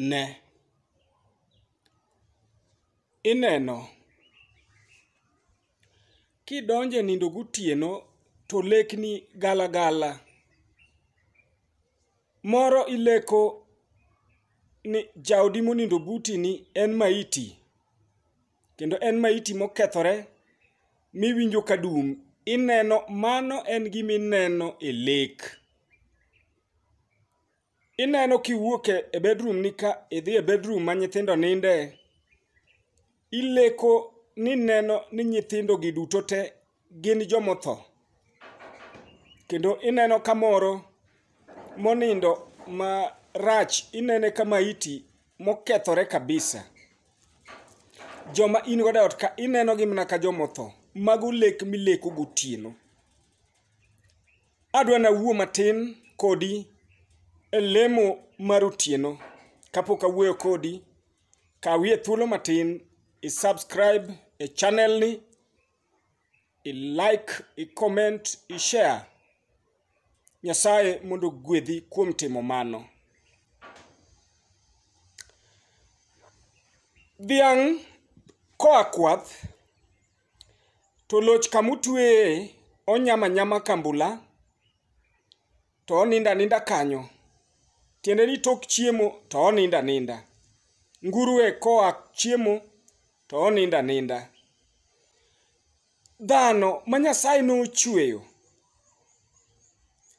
Ne. Ineno, kidonje nindo gotieno to lekni gala gala. Moro ileko ni jaodi monindo buti ni en maiti, kendo en maiti mokethore miwinjo ka dum. Ineno mano en gima ineno e lek. Ineno kiwuok e- e bedroom ni ka idhi e bedroom ma nyithindo ninde, ileko ni neno ni nyithindo gi duto te gin jomotho. Kendo ineno kamoro monindo ma rach, inene ka maiti mokethore kabisa. Joma in godo e ot ka ineno gi mana ka jomotho. Mago lek mileko gotieno. Adwa nawuo matin kodi e lemo mar otieno. Kapok awuoyo kodi, kawie thuolo matin i subscribe e channel ni, i like, i comment, i share. Nyasaye mondo ogwedhi kuom timo mano. Dhiang' koa kwath To loch kama utweye onyama nyama kambula to oninda aninda kanyo. Tiende ni tok chiemo to oninda aninda. Nguruwe koa chiemo to oninda aninda. Dhano ma Nyasaye nochweyo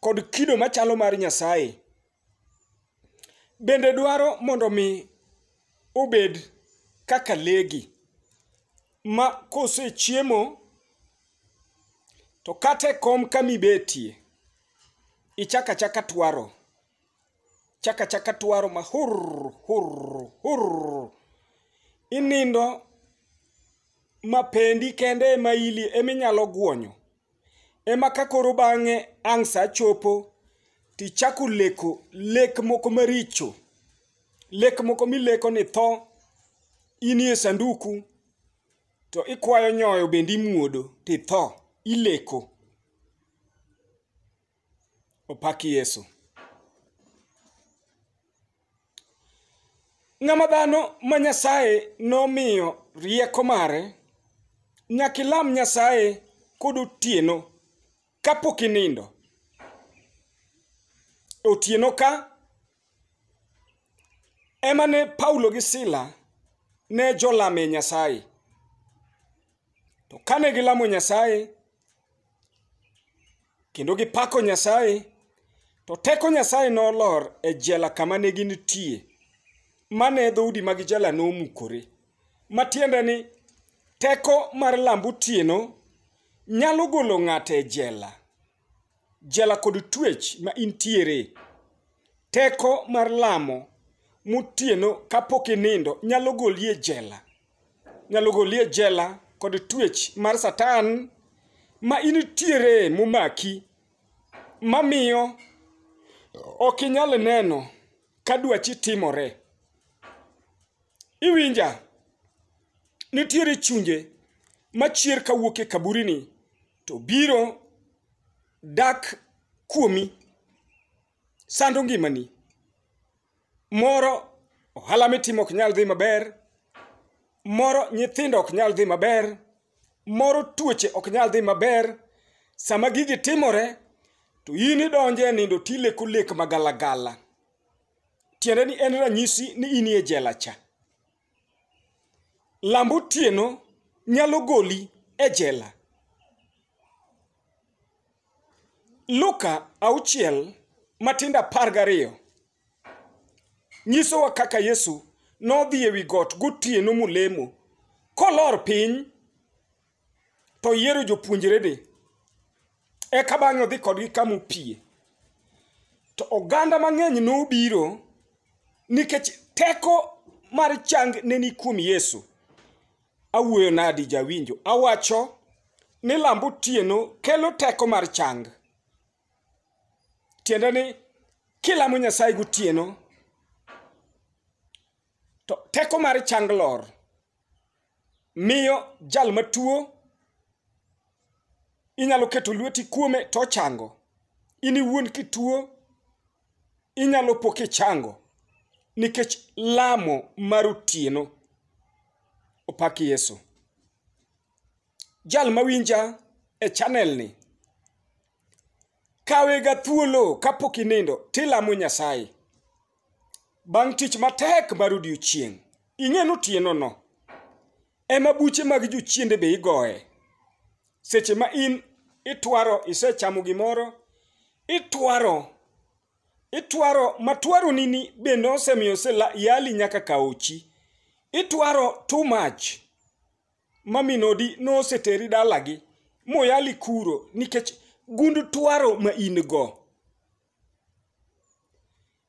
kod kido machalo mar Nyasaye Bende dwaro mondo mi obed kaka legi ma kosechiemo to kata e kom kamibetie ichaka chaka twaro chaka chaka twaro ma hur hur hur inindo ma pendi kende ema ili eminyalo guonyo ema ka koro bang'e ang' sa chopo tichako leko lek moko maricho lek moko mileko ni tho inie sanduku to ikwayo nyoyo bende imuodo titho ileko opaki yesu ng'ama dhano ma nyasaye nomiyo rieko mare nyaka ilam nyasaye kod otieno kapok inindo otieno ka ema ne Paulo gi Sila ne jolame Nyasaye. To kane gilamo Nyasaye kendo gipako Nyasaye, to teko Nyasaye nolor e jela kama ne ginitie, mane dhoudi mag jela nomukore. Matiende ni teko mar lamb otieno nyalo golo ng'ato e jela. jela kod twech ma intiere. Teko mar lamo motieno kapok inindo nyalo goli e jela. Nyalo goli e jela kod twech mar satan ma initiere momaki mamiyo ok inyal neno ka dwachi timore. Iwinja? Nitiere chunje machier kawuok e kaburini to biro dak kuomi sando ngimani moro ohala mitimo ok nyal dhi maber moro nyithindo ok nyal dhi maber moro tuoche ok nyal dhi maber sama gigi timore to in idonje nindo tileko lek magalagala tiende ni en ranyisi ni in e jela cha Lambo otieno nyalo goli e jela. Luka auchiel matindo apar gariyo nyisowa kaka Yesu nodhi ewi got gotieno molemo kolor piny to oyiero jopuonjrene eka bang'e odhi kodgi kama opie to oganda mang'eny nobiro nikech teko mar chang ne ni kuom yesu awuoyo nadi jawinjo awacho ni lamb otieno kelo teko mar chang tiende ni kilamo nyasaye gotieno to teko mar chang lor miyo jal matuo inyalo keto lweti kuome to ochango in iwuon kituo inyalo po kichango nikech lamo mar otieno opak yesu jal mawinja e chanelni kawega thuolo kapok inindo tilamo nyasaye Bang' tich matek mar odiechieng', ing'e ni otienono ema buche mag jochiende be igoye. Seche ma in itwaro isechamo gimoro, itwaro itwaro matwaroni ni bende osemiyo yali nyaka kaochi. Itwaro too much ma min odi noseteri dalagi moyali kuro nikech gund twaro ma in go.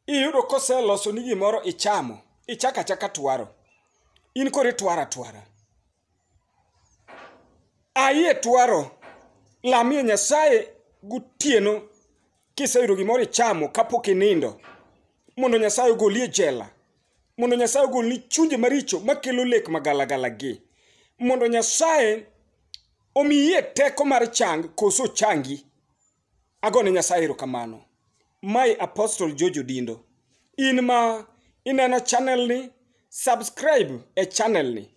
iyudo koseloso ni gimoro ichamo ichaka chaka twaro in koro itwara twara ayie twaro lamie nyasaye gotieno kiseyudo gimoro ichamo kapok inindo mondo nyasaye ogolie jela mondo nyasaye ogolni chunje maricho makelo lek magalagala gi mondo nyasaye omiyie teko mar chang koso changi Agone Nyasaye erokamano. My Apostle George Odindo. In ma ineno channel ni, subscribe e channel ni.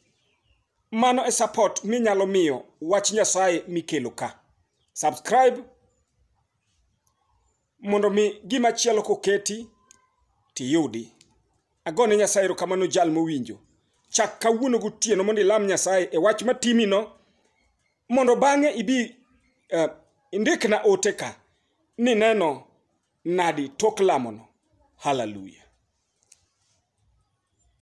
Mano e support minyalo miyo wach Nyasaye mikelo ka. Subscribe mondo mi gima chielo koketi tiyudi. Agone Nyasaye erokamano jal mowinjo. Chak kawuono gotieno mondo ilam Nyasaye e wach matimino mondo bang'e ibi eh, indikna ote ka ni neno nadi tok lamono haleluya